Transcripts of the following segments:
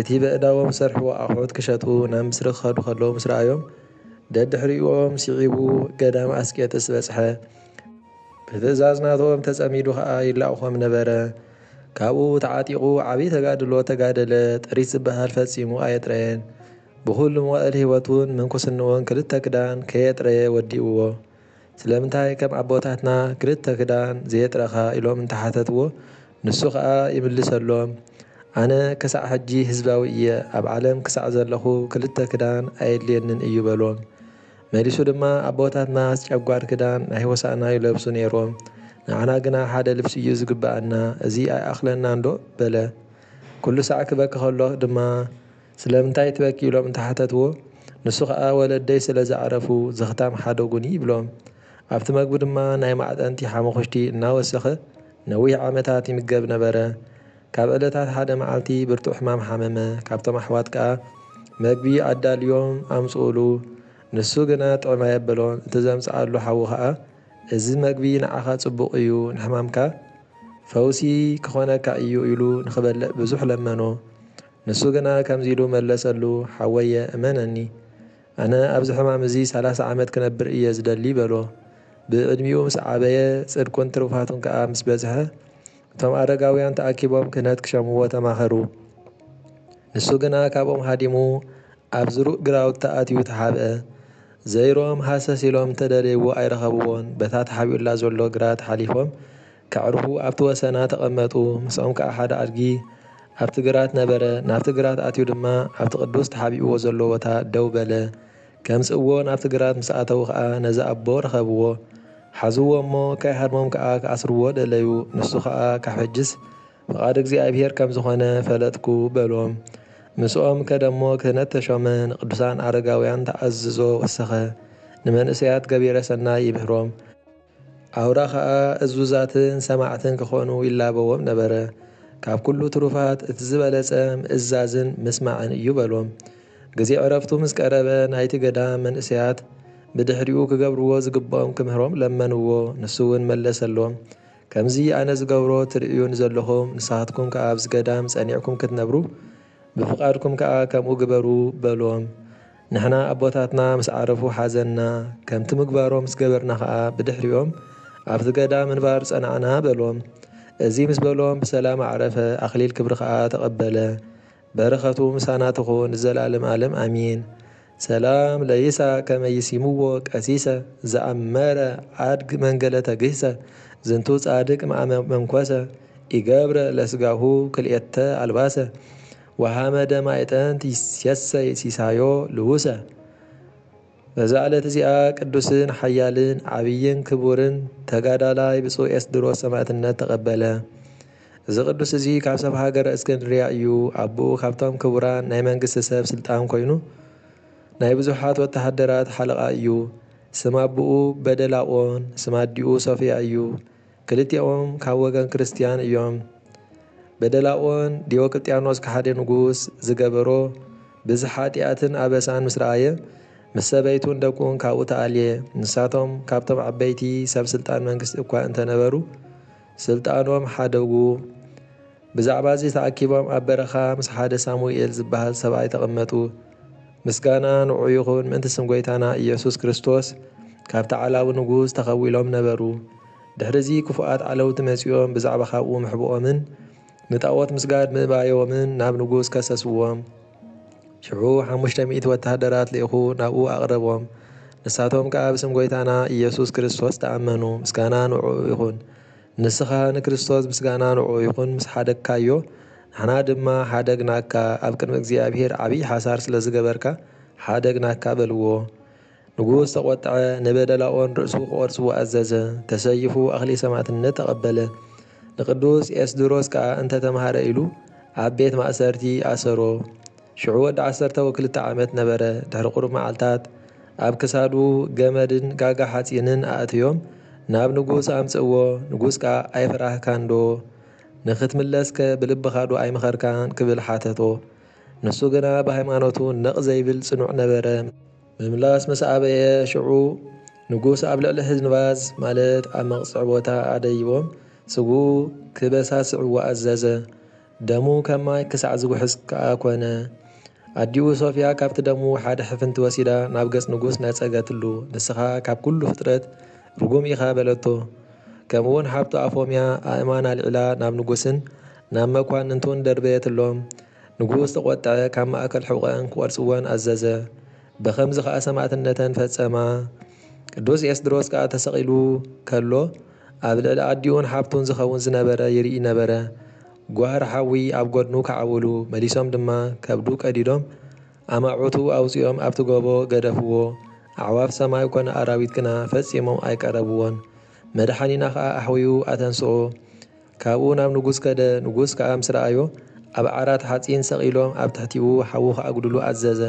እቲ በእዳዎም ዝሰርሕዎ ኣቑሑት ክሸጡ ናብ ምስሪ ክኸዱ ከለዉ ምስ ረኣዮም፣ ደድሕሪኦም ስዒቡ ገዳም ኣስቄጥስ በጽሐ። ብትእዛዝ ናቶም ተጸሚዱ ከኣ ይላእኾም ነበረ። ካብኡ ተዓጢቑ ዓብዪ ተጋድሎ ተጋደለ፣ ጥሪት ዝበሃል ፈጺሙ ኣየጥረየን። ብኹሉ መዋእል ህይወቱን ምንኩስንኡን ክልተ ክዳን ከየጥረየ ወዲኡዎ። ስለምንታይ ከም ኣቦታትና ክልተ ክዳን ዘየጥረኻ ኢሎም እንተሓተትዎ ንሱ ከኣ ይምልሰሎም ኣነ ክሳዕ ሕጂ ህዝባዊ እየ ኣብ ዓለም ክሳዕ ዘለኹ ክልተ ክዳን ኣየድልየንን እዩ በሎም መሊሱ ድማ ኣቦታትናስ ጨጓር ክዳን ናይ ሆሳእና ይለብሱ ኔሮም ንዓና ግና ሓደ ልብሲ እዩ ዝግብኣና እዚ ኣይኣኽለናንዶ በለ ኩሉ ሳዕ ክበኪ ከሎ ድማ ስለምንታይ ትበኪ ኢሎም እንተሓተትዎ ንሱ ከኣ ወለደይ ስለ ዘዕረፉ ዘኽታም ሓደጉኒ ይብሎም። ኣብቲ መግቢ ድማ ናይ ማዕጠንቲ ሓሙኹሽቲ እናወሰኸ ነዊሕ ዓመታት ይምገብ ነበረ። ካብ ዕለታት ሓደ መዓልቲ ብርቱዕ ሕማም ሓመመ፣ ካብቶም ኣሕዋት ከኣ መግቢ ኣዳልዮም ኣምጽኡሉ። ንሱ ግና ጥዕም ኣየበሎን፣ እቲ ዘምጽኣሉ ሓዉ ከኣ እዚ መግቢ ንዓኻ ጽቡቕ እዩ፣ ንሕማምካ ፈውሲ ክኾነካ እዩ ኢሉ ንኽበልዕ ብዙሕ ለመኖ። ንሱ ግና ከምዚ ኢሉ መለሰሉ፣ ሓወየ፣ እመነኒ፣ ኣነ ኣብዚ ሕማም እዚ ሰላሳ ዓመት ክነብር እየ ዝደሊ በሎ። ብዕድሚኡ ምስ ዓበየ፣ ጽድቁን ትሩፋቱን ከኣ ምስ በዝሐ፣ እቶም ኣረጋውያን ተኣኪቦም ክህነት ክሸምዎ ተማኸሩ። ንሱ ግና ካብኦም ሃዲሙ ኣብ ዝሩእ ግራውታ ኣትዩ ተሓብአ። ዘይሮም ሃሰስ ኢሎም እንተ ደለይዎ ኣይረኸብዎን፣ በታ ተሓቢኡላ ዘሎ ግራት ሓሊፎም ከዕርፉ ኣብቲ ወሰና ተቐመጡ። ምስኦም ከኣ ሓደ ኣድጊ ኣብቲ ግራት ነበረ። ናብቲ ግራት ኣትዩ ድማ ኣብቲ ቅዱስ ተሓቢእዎ ዘሎ ቦታ ደው በለ። ከምጽእዎ ናብቲ ግራት ምስ ኣተዉ ከኣ ነዚ ኣቦ ረኸብዎ። ሓዝዎ እሞ ከይሃድሞም ከኣ ክኣስርዎ ደለዩ። ንሱ ከኣ ካብ ሕጅስ ፍቓድ እግዚኣብሔር ከም ዝኾነ ፈለጥኩ በሎም። ምስኦም ከደሞ ክህነት ተሾመ፣ ንቅዱሳን ኣረጋውያን ተኣዝዞ ወሰኸ፣ ንመንእሰያት ገቢረ ሰናይ ይምህሮም። ኣውራ ኸኣ እዙዛትን ሰማዕትን ክኾኑ ይላበዎም ነበረ። ካብ ኩሉ ትሩፋት እቲ ዝበለጸ ምእዛዝን ምስማዕን እዩ በሎም። ግዜ ዕረፍቱ ምስ ቀረበ ናይቲ ገዳም መንእሰያት ብድሕሪኡ ክገብርዎ ዝግብኦም ክምህሮም ለመንዎ። ንሱውን መለሰሎም ከምዚ ኣነ ዝገብሮ ትርእዩኒ ዘለኹም ንስኻትኩም ከኣ ኣብዚ ገዳም ጸኒዕኩም ክትነብሩ ብፍቓድኩም ከኣ ከምኡ ግበሩ በሎም። ንሕና ኣቦታትና ምስ ዓረፉ ሓዘንና፣ ከምቲ ምግባሮም ምስ ገበርና ኸኣ ብድሕሪኦም ኣብቲ ገዳም ምንባር ጸናዕና በሎም። እዚ ምስ በሎም ብሰላም ኣዕረፈ፣ ኣኽሊል ክብሪ ኸኣ ተቐበለ። በረኸቱ ምሳና ትኹን ንዘለኣለም ኣለም ኣሚን። ሰላም ለይሳቅ ከመ ይሲምዎ ቀሲሰ ዘኣመረ ኣድግ መንገለ ተግህሰ ዝንቱ ጻድቅ መኣመ መንኮሰ ኢገብረ ለስጋሁ ክልኤተ ኣልባሰ ወሐመደ ማዕጠንት ይሴሰይ ሲሳዮ ልዉሰ። በዛ ዕለት እዚኣ ቅዱስን ሓያልን ዓብይን ክቡርን ተጋዳላይ ብፁዕ ኤስድሮስ ሰማዕትነት ተቐበለ። እዚ ቅዱስ እዚ ካብ ሰብ ሃገረ እስክንድርያ እዩ፣ ኣቦኡ ካብቶም ክቡራን ናይ መንግስቲ ሰብ ስልጣን ኮይኑ ናይ ብዙሓት ወተሃደራት ሓለቓ እዩ። ስም ኣቦኡ በደላቆን ስም ኣዲኡ ሶፍያ እዩ። ክልቲኦም ካብ ወገን ክርስትያን እዮም። በደላኦን ዲዮቅልጥያኖስ ከሓዲ ንጉስ ዝገበሮ ብዝሕ ሓጥያትን ኣበሳን ምስ ረኣየ ምስ ሰበይቱን ደቁን ካብኡ ተኣልየ። ንሳቶም ካብቶም ዓበይቲ ሰብ ስልጣን መንግስቲ እኳ እንተነበሩ ስልጣኖም ሓደጉ። ብዛዕባ'ዚ ተኣኪቦም ኣብ በረኻ ምስ ሓደ ሳሙኤል ዝበሃል ሰብኣይ ተቐመጡ። ምስጋና ንዑ ይኹን ምእንቲ ስም ጎይታና ኢየሱስ ክርስቶስ ካብቲ ዓላዊ ንጉስ ተኸዊሎም ነበሩ። ድሕሪ'ዚ ክፉኣት ዓለውቲ መጺኦም ብዛዕባ ካብኡ ምሕብኦምን ንጣኦት ምስጋድ ምእባዮምን ናብ ንጉስ ከሰስዎም። ሽዑ ሓሙሽተ ሚእቲ ወተሃደራት ልኢኹ ናብኡ ኣቕረቦም። ንሳቶም ከኣ ብስም ጎይታና ኢየሱስ ክርስቶስ ተኣመኑ። ምስጋና ንዑ ይኹን። ንስኻ ንክርስቶስ ምስጋና ንዕኡ ይኹን ምስ ሓደግካዮ ንሕና ድማ ሓደግናካ ኣብ ቅድሚ እግዚኣብሄር ዓብዪ ሓሳር ስለ ዝገበርካ ሓደግናካ በልዎ። ንጉስ ተቖጥዐ ንበደላኦን ርእሱ ክቖርጽዎ ኣዘዘ ተሰይፉ ኣኽሊል ሰማዕትነት ተቐበለ። ንቅዱስ ኤስድሮስ ከኣ እንተ ተማህረ ኢሉ ኣብ ቤት ማእሰርቲ ኣሰሮ። ሽዑ ወዲ ዓሰርተ ወክልተ ዓመት ነበረ፣ ድሕሪ ቁሩብ መዓልታት ኣብ ክሳዱ ገመድን ጋጋ ሓጺንን ኣእትዮም ናብ ንጉስ ኣምጽእዎ፣ ንጉስ ከኣ ኣይፈራህካንዶ? ንኽትምለስከ ብልብኻዶ ኣይመኸርካን? ክብል ሓተቶ። ንሱ ግና ብሃይማኖቱ ነቕ ዘይብል ጽኑዕ ነበረ። ምምላስ ምስ ኣበየ ሽዑ ንጉስ ኣብ ልዕሊ ህዝንባዝ ማለት ኣብ መቕጽዒ ቦታ ኣደይቦም ስግኡ ክበሳስዕዎ ኣዘዘ። ደሙ ከም ማይ ክሳዕ ዝጉሕጽ ከኣ ኮነ። ኣዲኡ ሶፍያ ካብቲ ደሙ ሓደ ሕፍንቲ ወሲዳ ናብ ገጽ ንጉስ ነጸገትሉ። ንስኻ ካብ ኩሉ ፍጥረት ርጉም ኢኻ በለቶ። ከምኡውን ሓብቱ ኣፎምያ ኣእማን ኣልዒላ ናብ ንጉስን ናብ መኳንንቱን ደርበየትሎም። ንጉስ ተቖጥዐ፣ ካብ ማእከል ሕቖኤን ክቖርጽወን ኣዘዘ። በኸምዚ ኸኣ ሰማእትነተን ፈጸማ። ቅዱስ ኤስድሮስ ከኣ ተሰቒሉ ከሎ ኣብ ልዕሊ ኣዲኡን ሓብቱን ዝኸውን ዝነበረ ይርኢ ነበረ። ጓህሪ ሓዊ ኣብ ጎድኑ ከዓውሉ፣ መሊሶም ድማ ከብዱ ቀዲዶም ኣማዑቱ ኣውጺኦም ኣብቲ ጎቦ ገደፍዎ። ኣዕዋፍ ሰማይ ኮነ ኣራዊት ግና ፈጺሞም ኣይቀረብዎን። መድሓኒና ከኣ ኣሕውዩ ኣተንስኦ። ካብኡ ናብ ንጉስ ከደ፣ ንጉስ ከኣ ምስ ረኣዮ ኣብ ዓራት ሓጺን ሰቒሎም ኣብ ትሕቲኡ ሓዊ ክኣጉድሉ ኣዘዘ።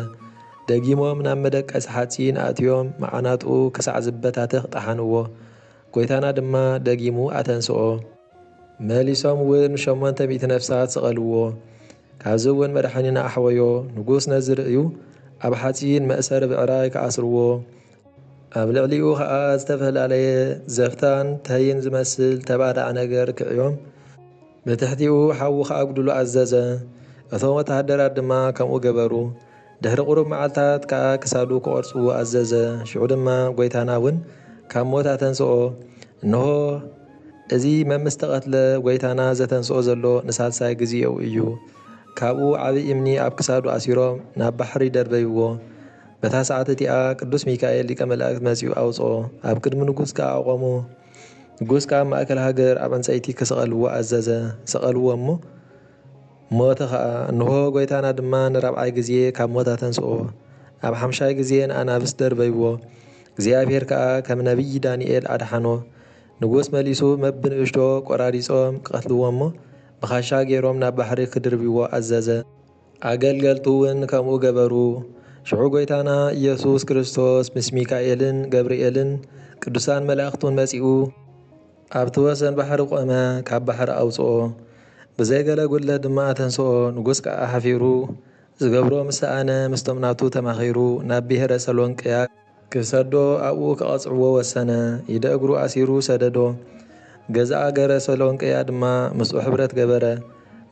ደጊሞም ናብ መደቀሲ ሓጺን ኣእትዮም መዓናጡ ክሳዕ ዝበታተኽ ጠሓንዎ። ጐይታና ድማ ደጊሙ ኣተንስኦ። መሊሶም እውን ሸሞንተ ሚእቲ ነፍሳት ሰቐልዎ። ካብዚ እውን መድሓኒና ኣሕወዮ። ንጉሥ ነዚ ርእዩ ኣብ ሓጺን መእሰሪ ብዕራይ ከኣስርዎ፣ ኣብ ልዕሊኡ ኸኣ ዝተፈላለየ ዘፍታን ተይን ዝመስል ተባዳዕ ነገር ክዕዮም፣ ብትሕቲኡ ሓዊ ኺኣጕድሉ ኣዘዘ፣ እቶም ወተሃደራት ድማ ከምኡ ገበሩ። ድሕሪ ቝሩብ መዓልትታት ከኣ ክሳዱ ኪቘርጽዎ ኣዘዘ፣ ሽዑ ድማ ጐይታና እውን ካብ ሞት ኣተንስኦ። እንሆ፣ እዚ መምስ ተቐትለ፣ ጐይታና ዘተንስኦ ዘሎ ንሳልሳይ ግዜኡ እዩ። ካብኡ ዓቢ እምኒ ኣብ ክሳዱ ኣሲሮም ናብ ባሕሪ ደርበይዎ። በታ ሰዓት እቲኣ ቅዱስ ሚካኤል ሊቀ መላእክት መጺኡ ኣውጽኦ፣ ኣብ ቅድሚ ንጉስ ከኣ ኣቖሞ። ንጉስ ከኣ ኣብ ማእከል ሃገር ኣብ ዕንጸይቲ ኪሰቐልዎ ኣዘዘ። ሰቐልዎ እሞ ሞተ ኸኣ። እንሆ፣ ጐይታና ድማ ንራብዓይ ጊዜ ካብ ሞት ኣተንስኦ። ኣብ ሓምሻይ ጊዜ ንኣናብስ ደርበይዎ። እግዚኣብሄር ከኣ ከም ነብዪ ዳንኤል ኣድሓኖ። ንጉስ መሊሱ በብንእሽቶ ቈራሪጾም ኪቐትልዎ እሞ ብኻሻ ገይሮም ናብ ባሕሪ ኪድርብይዎ ኣዘዘ። ኣገልገልቱውን ከምኡ ገበሩ። ሽዑ ጐይታና ኢየሱስ ክርስቶስ ምስ ሚካኤልን ገብርኤልን ቅዱሳን መላእኽቱን መጺኡ ኣብቲ ወሰን ባሕሪ ቆመ፣ ካብ ባሕሪ ኣውጽኦ፣ ብዘይ ገለ ጕድለት ድማ ኣተንስኦ፣ ንጉሥ ከኣ ሓፊሩ ዝገብሮ ምስ ሰኣነ ምስቶም ናቱ ተማኺሩ ናብ ብሔረ ሰሎንቅያ ክሰዶ ኣብኡ ከቐጽዕዎ ወሰነ። ኢደ እግሩ ኣሲሩ ሰደዶ። ገዛኣ ገረ ሰሎንቅያ ድማ ምስኡ ሕብረት ገበረ፣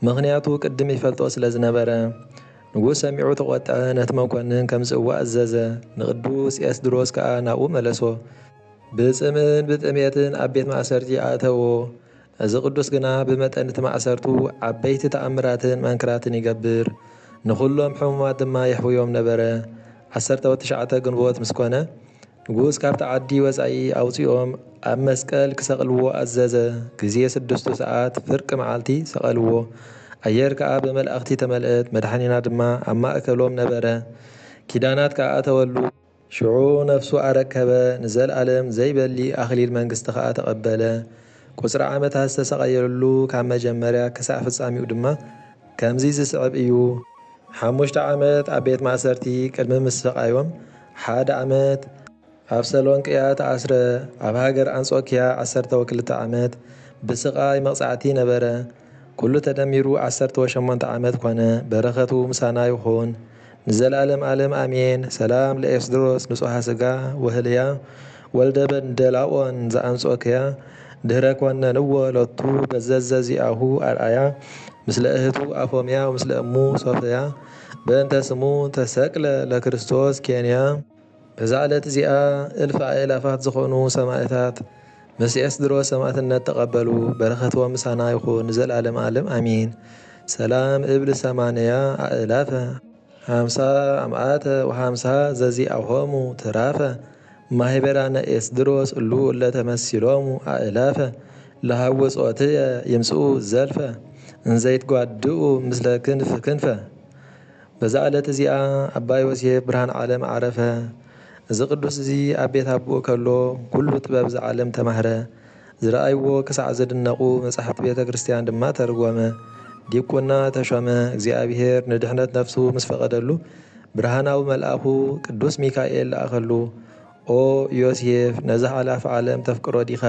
ምኽንያቱ ቅድም ይፈልጦ ስለ ዝነበረ። ንጉስ ሰሚዑ ተቖጥዐ፣ ነቲ መኰንን ከምጽእዎ ኣዘዘ፣ ንቅዱስ ኤስድሮስ ከኣ ናብኡ መለሶ። ብጽምእን ብጥሜትን ኣብ ቤት ማእሰርቲ ኣእተዎ። እዚ ቅዱስ ግና ብመጠን እቲ ማእሰርቱ ዓበይቲ ተኣምራትን መንክራትን ይገብር፣ ንኹሎም ሕሙማት ድማ የሕውዮም ነበረ። ዓሰርተ ወትሽዓተ ግንቦት ምስ ኮነ፣ ንጉስ ካብቲ ዓዲ ወጻኢ ኣውጺኦም ኣብ መስቀል ክሰቕልዎ ኣዘዘ፣ ግዜ ስድስቱ ሰዓት፣ ፍርቂ መዓልቲ፣ ሰቐልዎ። ኣየር ከኣ ብመላእኽቲ ተመልእት፣ መድሓኒና ድማ ኣብ ማእከሎም ነበረ፣ ኪዳናት ከኣ ኣተወሉ። ሽዑ ነፍሱ ኣረከበ፣ ንዘልኣለም ዘይበሊ ኣኽሊል መንግስቲ ከኣ ተቐበለ። ቁጽሪ ዓመታት ዝተሳቐየሉ ካብ መጀመርያ ክሳዕ ፍጻሚኡ ድማ ከምዚ ዝስዕብ እዩ። ሓሙሽተ ዓመት ኣብ ቤት ማእሰርቲ ቅድሚ ምስቓዮም ሓደ ዓመት፣ ኣብ ሰሎንቅያ ተኣስረ፣ ኣብ ሃገር ኣንጾክያ ዓሰርተው ክልተ ዓመት ብስቓይ መቕጻዕቲ ነበረ፣ ኩሉ ተደሚሩ ዓሰርተ ወሸሞንተ ዓመት ኮነ በረከቱ ምሳና ይኩን ንዘላለም ኣለም ኣሜን ሰላም ለኤስድሮስ ንጹሃ ስጋ ወህልያ ወልደ በንደላኦን ዘኣንጾክያ ድህረ ኮነንዎ ሎቱ በዘዘዚኣሁ ኣርኣያ ምስለ እህቱ ኣፎምያ ወምስለ እሙ ሶፍያ በእንተ ስሙ ተሰቅለ ለክርስቶስ ኬንያ እዛ ዕለት እዚኣ እልፊ ኣእላፋት ዝኾኑ ሰማእታት ምስ ኤስድሮስ ሰማእትነት ተቀበሉ በረከትዎም ምሳና ይኹን ንዘልኣለም ኣለም ኣሜን ሰላም እብል ሰማንያ ኣእላፈ ሃምሳ ኣምኣተ ወሃምሳ ዘዚኣሆሙ ትራፈ ማህበራነ ኤስድሮስ እሉ እለ ተመሲሎሙ ኣእላፈ ለሃውጾትየ ይምጽኡ ዘልፈ እንዘይትጓድኡ ምስለ ክንፍ ክንፈ በዛ ዕለት እዚኣ ኣባ ዮሴፍ ብርሃን ዓለም ዓረፈ። እዚ ቅዱስ እዚ ኣብ ቤት ኣቦኡ ከሎ ኩሉ ጥበብ እዛ ዓለም ተማህረ። ዝረኣይዎ ክሳዕ ዝድነቑ መጻሕፍቲ ቤተ ክርስቲያን ድማ ተርጎመ። ዲቁና ተሾመ። እግዚኣብሔር ንድሕነት ነፍሱ ምስ ፈቐደሉ ብርሃናዊ መልኣኹ ቅዱስ ሚካኤል ለኣኸሉ። ኦ ዮሴፍ ነዛ ሓላፊ ዓለም ተፍቅሮ ዲኻ?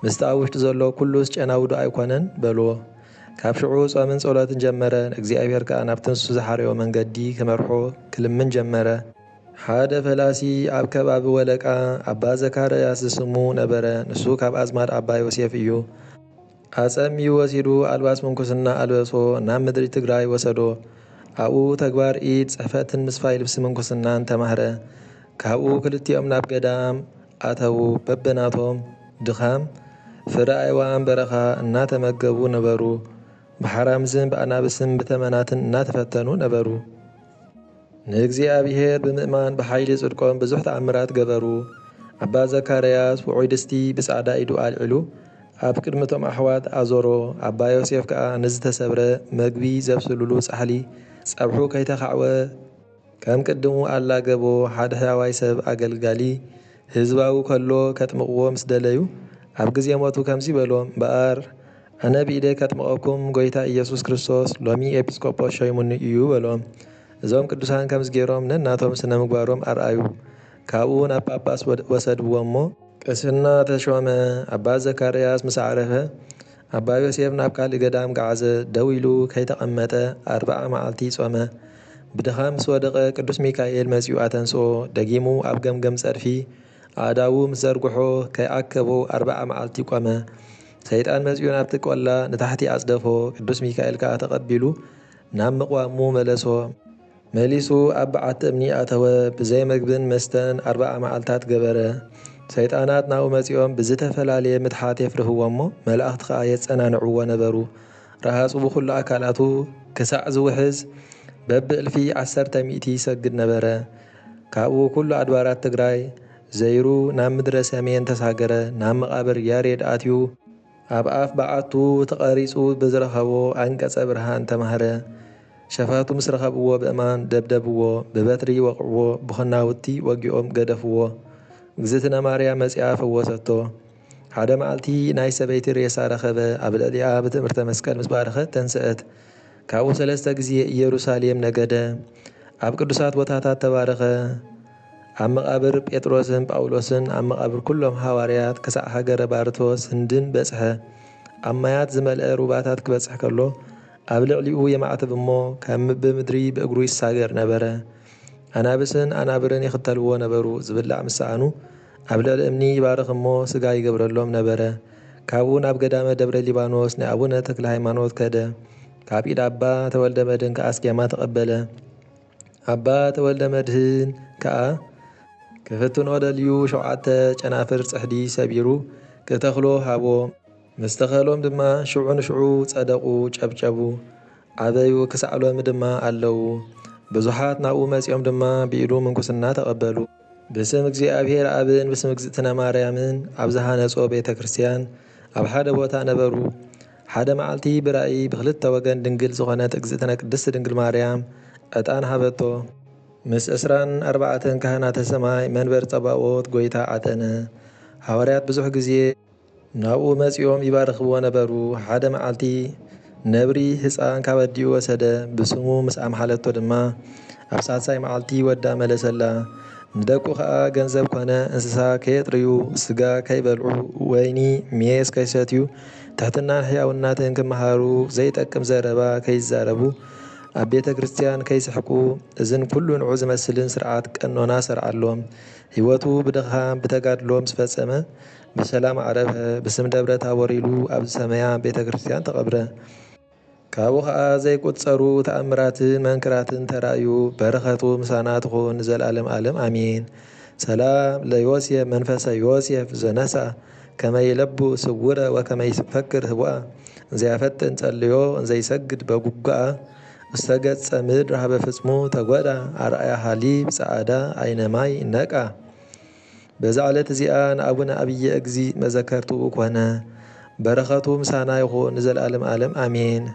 ምስቲ ኣብ ውሽጢ ዘሎ ኩሉስ ጨናዊ ዶ ኣይኮነን? በልዎ። ካብ ሽዑ ጾምን ጸሎትን ጀመረ፣ ንእግዚኣብሄር ከኣ ናብቲ ንሱ ዝሓረዮ መንገዲ ክመርሖ ክልምን ጀመረ። ሓደ ፈላሲ ኣብ ከባቢ ወለቃ ኣባ ዘካርያስ ዝስሙ ነበረ፣ ንሱ ካብ ኣዝማድ ኣባ ዮሴፍ እዩ። ኣጸምዩ ወሲዱ ኣልባስ ምንኩስና ኣልበሶ፣ ናብ ምድሪ ትግራይ ወሰዶ። ኣብኡ ተግባር ኢድ ጽሕፈትን ምስፋይ ልብሲ ምንኩስናን ተማህረ። ካብኡ ክልቲኦም ናብ ገዳም ኣተዉ፣ በብናቶም ድኻም ፍረ ኣእዋም በረኻ እናተመገቡ ነበሩ፣ ብሓራምዝን ብኣናብስን ብተመናትን እናተፈተኑ ነበሩ። ንእግዚኣብሔር ብምእማን ብሓይሊ ጽድቆም ብዙሕ ተኣምራት ገበሩ። ኣባ ዘካርያስ ውዑይ ድስቲ ብጻዕዳ ኢዱ ኣልዒሉ ኣብ ቅድሚ እቶም ኣሕዋት ኣዞሮ፣ ኣባ ዮሴፍ ከኣ ንዝተሰብረ መግቢ ዘብስሉሉ ጻሕሊ ጸብሑ ከይተኻዕወ፣ ከም ቅድሙ ኣላገቦ ሓደ ሕያዋይ ሰብ ኣገልጋሊ ህዝባዊ ከሎ ከጥምቕዎ ምስ ደለዩ ኣብ ግዜ ሞቱ ከምዚ በሎም እምበኣር ኣነ ብኢደይ ከጥምቐኩም ጎይታ ኢየሱስ ክርስቶስ ሎሚ ኤጲስቆጶስ ሾይሙኒ እዩ በሎም እዞም ቅዱሳን ከምዚ ጌሮም ነናቶም ስነ ምግባሮም ኣርኣዩ ካብኡ ናብ ጳጳስ ወሰድዎ እሞ ቅስና ተሾመ ኣባ ዘካርያስ ምስ ዓረፈ ኣባ ዮሴፍ ናብ ካልእ ገዳም ገዓዘ፣ ደው ኢሉ ከይተቐመጠ ኣርብዓ መዓልቲ ጾመ። ብድኻም ምስ ወደቐ ቅዱስ ሚካኤል መጺኡ ኣተንስኦ፣ ደጊሙ ኣብ ገምገም ጸድፊ ኣእዳዉ ምስ ዘርግሖ ከይኣከቦ ኣርብዓ መዓልቲ ቆመ። ሰይጣን መጺኡ ናብቲ ቆላ ንታሕቲ ኣጽደፎ፣ ቅዱስ ሚካኤል ከኣ ተቐቢሉ ናብ ምቕዋሙ መለሶ። መሊሱ ኣብ በዓቲ እምኒ ኣተወ፣ ብዘይ መግብን መስተን ኣርብዓ መዓልታት ገበረ። ሰይጣናት ናብኡ መጺኦም ብዝተፈላለየ ምትሓት የፍርህዎ'ሞ መላእኽቲ ኸኣ የጸናንዕዎ ነበሩ። ረሃጹ ብኹሉ ኣካላቱ ክሳዕ ዝውሕዝ በብእልፊ ዓሰርተ ሚእቲ ይሰግድ ነበረ። ካብኡ ኩሉ ኣድባራት ትግራይ ዘይሩ ናብ ምድረ ሰሜን ተሳገረ፣ ናብ መቓብር ያሬድ ኣትዩ። ኣብ ኣፍ በዓቱ ተቐሪጹ ብዝረኸቦ ኣንቀጸ ብርሃን ተማህረ። ሸፋቱ ምስ ረኸብዎ ብእማን ደብደብዎ፣ ብበትሪ ወቕዕዎ፣ ብኹናውቲ ወጊኦም ገደፍዎ። እግዝእትነ ማርያም መጺኣ ፈወሰቶ። ሓደ መዓልቲ ናይ ሰበይቲ ሬሳ ረኸበ፣ ኣብ ልዕሊኣ ብትእምርተ መስቀል ምስ ባረኸት ተንስአት። ካብኡ ሰለስተ ግዜ ኢየሩሳሌም ነገደ። ኣብ ቅዱሳት ቦታታት ተባረኸ። ኣብ መቓብር ጴጥሮስን ጳውሎስን፣ ኣብ መቓብር ኩሎም ሃዋርያት ክሳዕ ሃገረ ባርቶስ፣ ህንድን፣ በጽሐ። ኣብ ማያት ዝመልአ ሩባታት ክበጽሕ ከሎ፣ ኣብ ልዕሊኡ የማዕትብ እሞ ከም ብምድሪ ብእግሩ ይሳገር ነበረ። ኣናብስን ኣናብርን ይኽተልዎ ነበሩ፣ ዝብላዕ ምስ ሰኣኑ ኣብ ልዕሊ እምኒ ይባርኽ እሞ ስጋ ይገብረሎም ነበረ። ካብኡ ናብ ገዳመ ደብረ ሊባኖስ ናይ ኣቡነ ተክለሃይማኖት ከደ፣ ካብ ኢድ ኣባ ተወልደመድን ከኣ ስኬማ ተቐበለ። ኣባ ተወልደመድህን ከኣ ክፍትኖ ደልዩ ሸውዓተ ጨናፍር ጽሕዲ ሰቢሩ ክተኽሎ ሃቦ። ምስ ተኸሎም ድማ ሽዑ ንሽዑ ጸደቑ፣ ጨብጨቡ፣ ዓበዩ፣ ክሳዕ ሎሚ ድማ ኣለዉ። ብዙሓት ናብኡ መጺኦም ድማ ብኢዱ ምንኩስና ተቐበሉ። ብስም እግዚኣብሔር ኣብን ብስም እግዝእትነ ማርያምን ኣብ ዝሃነጾ ቤተ ክርስቲያን ኣብ ሓደ ቦታ ነበሩ። ሓደ መዓልቲ ብራእይ ብክልተ ወገን ድንግል ዝኾነት እግዝእትነ ቅድስት ድንግል ማርያም ዕጣን ሃበቶ። ምስ ዕስራን ኣርባዕተን ካህናተ ሰማይ መንበር ጸባኦት ጎይታ ዓጠነ። ሃዋርያት ብዙሕ ግዜ ናብኡ መጺኦም ይባርኽዎ ነበሩ። ሓደ መዓልቲ ነብሪ ህጻን ካብ ኣዲኡ ወሰደ። ብስሙ ምስ ኣምሓለቶ ድማ ኣብ ሳልሳይ መዓልቲ ወዳ መለሰላ። ንደቁ ከኣ ገንዘብ ኮነ እንስሳ ከየጥርዩ፣ ስጋ ከይበልዑ፣ ወይኒ ሜስ ከይሰትዩ፣ ትሕትናን ሕያውናትን ክመሃሩ፣ ዘይጠቅም ዘረባ ከይዛረቡ፣ ኣብ ቤተ ክርስቲያን ከይስሕቁ፣ እዝን ኩሉ ንዑ ዝመስልን ስርዓት ቀኖና ሰርዓሎም። ሕይወቱ ብድኻም ብተጋድሎ ምስ ፈጸመ ብሰላም ዓረፈ። ብስም ደብረ ታቦር ኢሉ ኣብ ዝሰመያ ቤተ ክርስቲያን ተቐብረ። ካብኡ ከኣ ዘይቁጸሩ ተኣምራትን መንክራትን ተራእዩ በረከቱ ምሳና ትኩን ንዘልኣለም ኣለም ኣሜን ሰላም ለዮሴፍ መንፈሰ ዮሴፍ ዘነስኣ ከመ ይለቡ ስውረ ወከመ ይፈክር ህቡኣ እንዘያፈጥን ጸልዮ እንዘይሰግድ በጉጉኣ ውስተ ገጸ ምድር ሀበ ፍጽሙ ተጎዳ ኣርኣያ ሀሊብ ጸኣዳ ኣይነ ማይ ነቃ በዛ ዕለት እዚኣ ንኣቡነ ኣብየ እግዚ መዘከርትኡ ኮነ በረከቱ ምሳና ይኩን ንዘልኣለም ኣለም ኣሜን።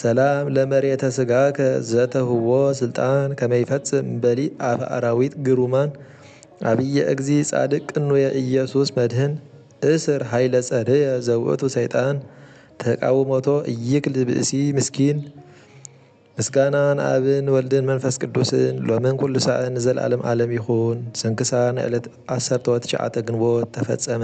ሰላም ለመሬተ ስጋከ ዘተህዎ ስልጣን ከመ ይፈጽም በሊ ኣፈ ኣራዊት ግሩማን ኣብየ እግዚ ጻድቅ ቅኑየ ኢየሱስ መድህን እስር ኃይለ ጸርየ ዘውእቱ ሰይጣን ተቃውሞቶ እይክል ብእሲ ምስኪን ምስጋና ንኣብን ወልድን መንፈስ ቅዱስን ሎምን ኩሉ ሳዕን ንዘልኣለም ኣለም ይኩን። ስንክሳር ንዕለት ዓሰርተወ ትሽዓተ ግንቦት ተፈጸመ።